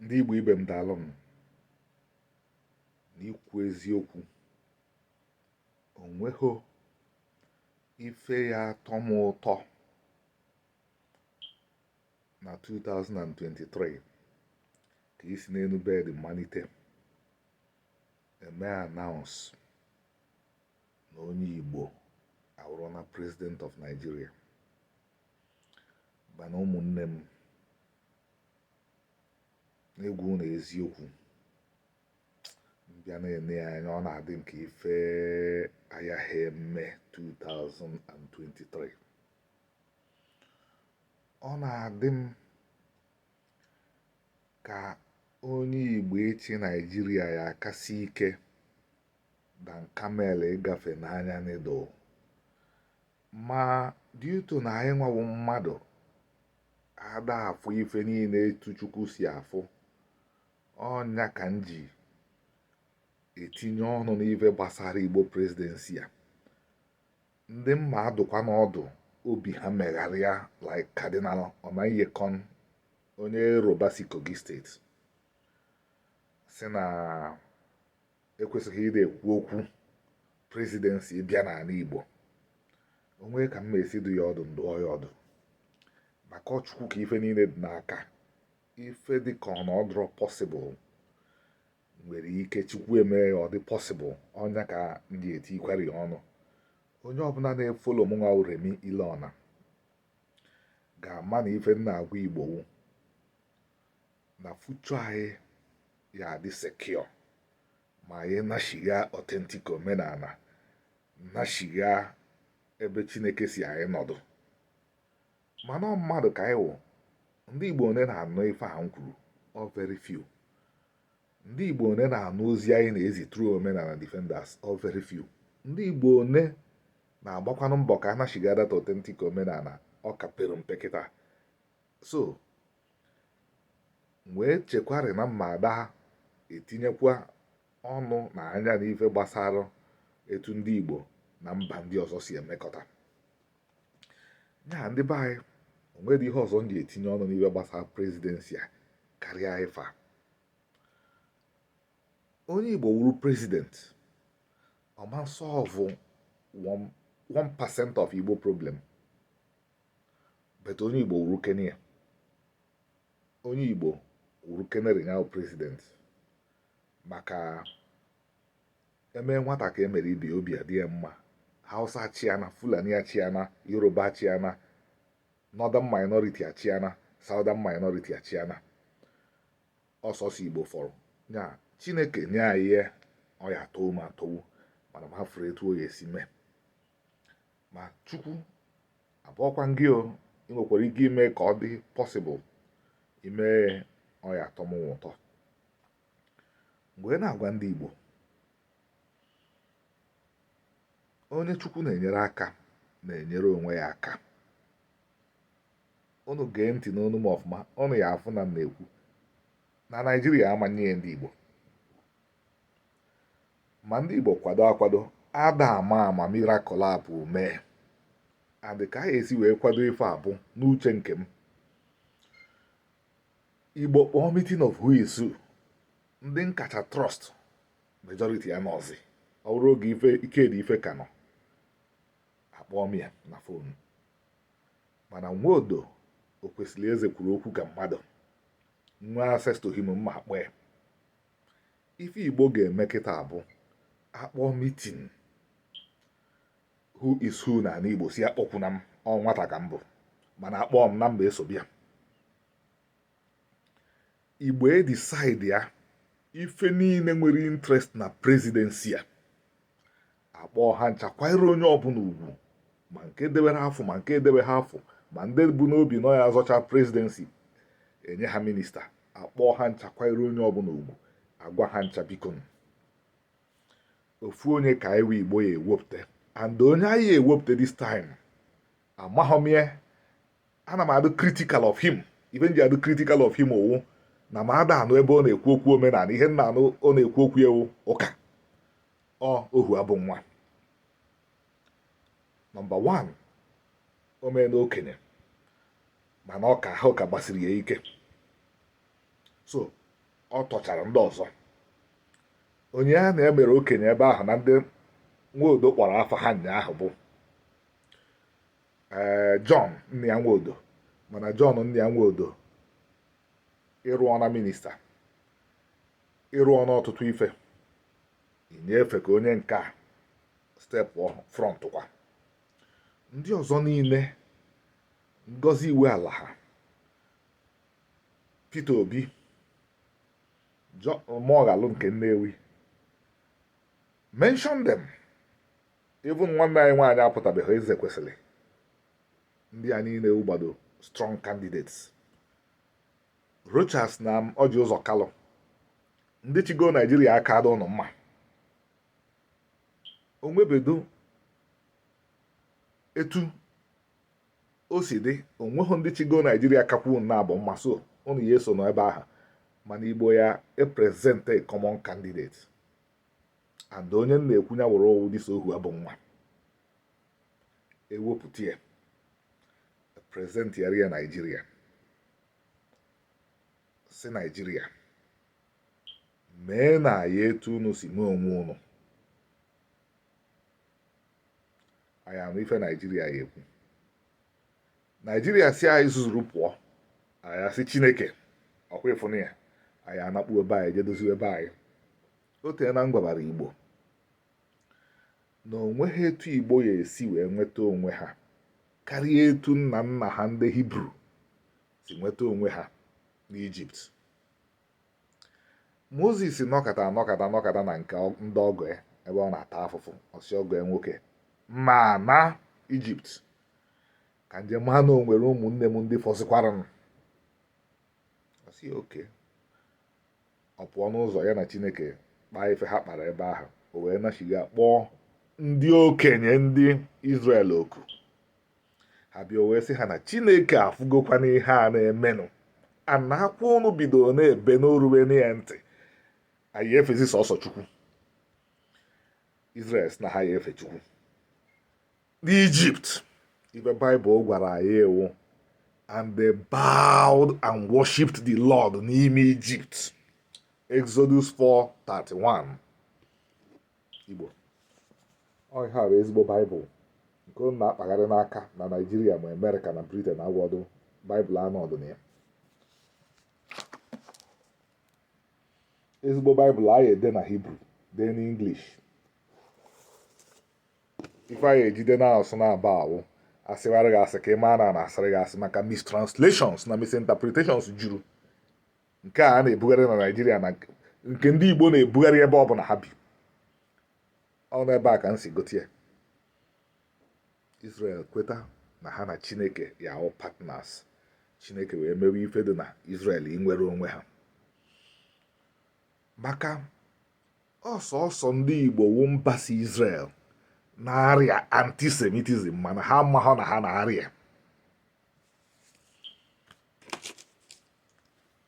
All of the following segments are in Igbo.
ndị Igbo ibe m daalụnụ n'ikwu eziokwu o nweghị ife ya atọ m ụtọ na 2023 ka isi n'enu bed manite e mee announce na onye Igbo awụrụna president of Nigeria Mana ụmụnne m, n'ịgwa unu eziokwu, m bịa na-ene ya anya ọ na-adị m ka ife a yaghị eme 2023 ọ na-adị m ka onye Igbo ịchị Nigeria ya akasị ike than camel ịgafe n'anya needle ma due to na anyịnwa wụ mmadụ a da afụ ife niile etu Chukwu si afụ ọ nya ka m ji etinye ọnụ n'ife gbasara Igbo presidency a ndị m ma adụkwanụ ọdụ obi ha megharịa like Cardinal Onaiyekan onye Yoruba si Kogi State sị na ekwesịghị ịdị ekwu okwu presidency bịa n'ala Igbo o nwe ka m ma esi dụ ya ọdụ m dụọ ya ọdụ maka ọ Chukwu ka ife niile dị n'aka ife dị ka ọ na ọ dụrọ possible nwere ike Chukwu emee ya ọ dị possible ọ nya ka m ji etiikwara ya ọnụ onye ọbụla na-efolo mụnwa Remy Ilona ga-ama na ife m na-agwa Igbo wụ na future anyị ya adị secure ma anyị nachigha authentic omenala nachigha ebe Chineke sị anyị nọdụ mana mmadụ ka anyị wụ ndị igbo one na-anụ ife a m kwuru ọ very few ndị igbo one na-anụ ozi anyị na-ezi through omenala defenders ọ very few ndị igbo one na-agbakwanụ mbọ ka a nachigha that authentic omenala ọ ka pere mpe kịta so wee chekwarị na m ma ada etinyekwa ọnụ na anya n'ife gbasara etu ndị Igbo na mba ndị ọzọ si emekọta ya ndị be anyị o nwerọ ihe ọzọ m ji etinye ọnụ n'ife gbasara presidency a karịa ife a onye Igbo wụrụ president ọ ma solve 1% of Igbo problem but onye igbo wuru kenia onye igbo wuru kenere ya president maka eme nwata ka emere ibe ya obi adị ya mma hausa achịana fulani achịana yoruba achịana northern minority achịana southern minority achịana ọ sọsọ igbo fọrọ ya chineke nye anyị ya ọ ya atọwu m atọwu mana m afụrọ etu ọ ya esi mee ma chukwu abụọkwa gị o i nwekwara ike ime ka ọ dị possible i mee ọ ya atọ m ụtọ m wee na-agwa ndị Igbo onye chukwu na-enyere aka na-enyere onwe ya aka unu gee ntị n'ọnụ m ọfụma unu ya afụ na m na-ekwu na naijiria ama enye ndị igbo ma ndị Igbo kwado akwado ada ama ama miracle a bụ mee and ka ha esi wee kwado ife a bụ n'uche nke m Igbo kpọọ meeting of who is who ndị m kacha trust majority ya anọọzi ọ bụrụ oge ikedife ka nọ akpọọ m ya na phone mana nwodo okwesilieze kwuru okwu ka mmadụ nwee access to him m ma akpọ ya ife igbo ga-eme kịta bụ akpọọ meeting who is who na ala igbo sị akpọkwuna m ọ nwata ka m bụ mana akpọọ m na m ga-eso bịa igbo edecide ya ife niile nwere interest na presidency a akpọọ ha ncha kwanyere onye ọbụla ugwu ma nke debere afọ ma nke edebe ha afọ ma ndị bu n'obi na ya azọcha presidency enye ha minister akpọọ ha ncha kwanyere onye ọbụla ugwu agwa ha ncha biko ofu onye ka iwe igbo ya ewepụta and onye anyị ewepụta this time amaghị m ya ana m adụ critical of him ife m ji adụ critical of him ọ wụ na m ada anụ ebe ọ na-ekwu okwu omenala ihe m na-anụ ọ na-ekwu okwu ewu ụka ọ ohuabunwa number 1 o meena okenye mana ọ ka ahụ ka gbasiri ya ike so ọ tọchara ndị ọzọ onye a na-emere okenye ebe ahụ na ndị nwodo kpọrọ afa ha nyaahụ bụ ee eh, John nnia nwodo mana John nnia nwodo ị rụọna minister ị rụọna ọtụtụ ife inye efe ka onye nke a stepụọ front kwa ndị ọzọ niile Ngozi Iweala ha Peter Obi Moghalu nke Nnewi mention them even nwanne anyị nwaanyị apụtabeghị Ezekwesili ndị a niile wụgbado strong candidates Rochas na Ọji Ụzọ Kalụ ndị chigo Naijiria aka adụ ụnụ mma onwebedo etu o si dị onweghị ndị chigo Naijiria kakwu na abụ mma so ụnụ ya eso n'ebe ahụ mana Igbo ya e-present a common candidate and onye m na-ekwu ya wụrụ ọ wụ dịso ohu abụọ nwa ewepụta ya present ya Naijiria sị naijiria meenụ ya etu unu si mee onwe unu anyị anụ ife naijiria ya ekwu naijiria sị anyị zuzuru pụọ anyị asị chineke ọkwa ị fụnụ ya anyị anakpuwe be anyị jee doziwe be anyị o teena m gwabara igbo na o nweghị etu Igbo ya esi wee nweta onwe ha karịa etu nna nna ha ndị Hibru si nweta onwe ha n'Ijipt Mozis nọkata nọkata nọkata na nke ndị ọgọ ya ebe ọ na-ata afụfụ ọ sị ọgọ ya nwoke m ana Ijipt ka m je ma na o nwere ụmụnne m ndị fọzịkwaranụ ọ sị okay Ọ pụọ n'ụzọ ya na Chineke kpaa ife ha kpara ebe ahụ o wee nachigha kpọọ ndị okenye ndị Izrel oku ha bịa wee sị ha na Chineke afụgokwanụ ihe a na-eme ụnụ na akwa ụnụ bidoro na-ebe na o rubena ya ntị anyị efezi sọsọ Chukwu Izrel sị na ha ya efe Chukwu n'Ijipt ife Baịbụl gwara anyị wụ and they bowed and worshipped the Lord n'ime Ijipt Exodus 4:31 Igbo ọ ihe a bụ ezigbo Baịbụl nke unu na-akpagharị n'aka na Naịjirịa ma Amerịka na Briten agwọdụ Baịbụl anọdụ na ya ezigbo baịbụl anyị ede na hibru dee n'inglish ife anyị eji de n'asụsụ naabọ wụ a sịwara gị asị ka ị maa na a na-asịrị gị asị maka mistranslations na misinterpretations juru nke a na-ebugharị na naijiria na nke ndị igbo na-ebugharị ebe ọ bụla ha bi ọ n'ebe a ka m si gote ya israel kweta na ha na chineke ya awụ partners chineke wee mewe ife dị na israel inwere onwe ha maka ọ sọsọ ndị igbo wụ mba si Israel na-arịa antisemitism mana ha amaghọ na ha na-arịa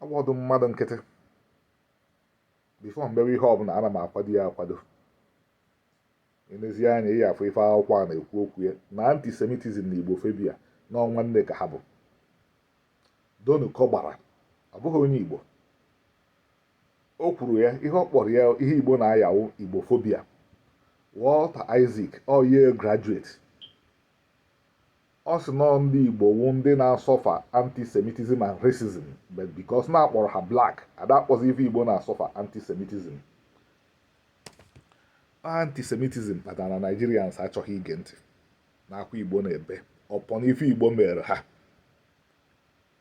ọ bọdụ mmadụ nkịtị before m bewe ihe ọbụla ana m akwado ya akwado ị nezie anya ị ya-afụ ife akwụkwọ a na-ekwu okwu ya na antisemitism na igbofobia na ọ nwanne ka ha bụ Donu Kogbara ọ bụghị onye igbo O kwuru ya ihe ọ kpọrọ ya ihe Igbo na-aya wụ Igbofobia. Walter Isaac ọ Yale graduate ọ sị na ọ ndị Igbo wụ ndị na-asọfa antisemitism and racism but because na a kpọrọ ha black a da-akpọzi ife Igbo na-asọfa antisemitism antisemitism kpatara na Nigerians achọghị ige ntị n'akwa Igbo na-ebe upon ife Igbo meere ha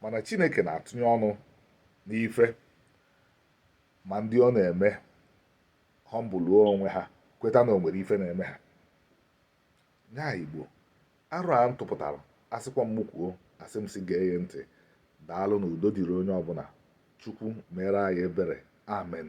mana chineke na-atụnye ọnụ n'ife ma ndị ọ na-eme humble-uo onwe ha kweta na o nwere ife na-eme ha nya igbo aro a m tụpụtara a sịkwa m kwuo asị m sị gee ya ntị daalụ na udo dịrị onye ọbụla chukwu mere anyị ebere amen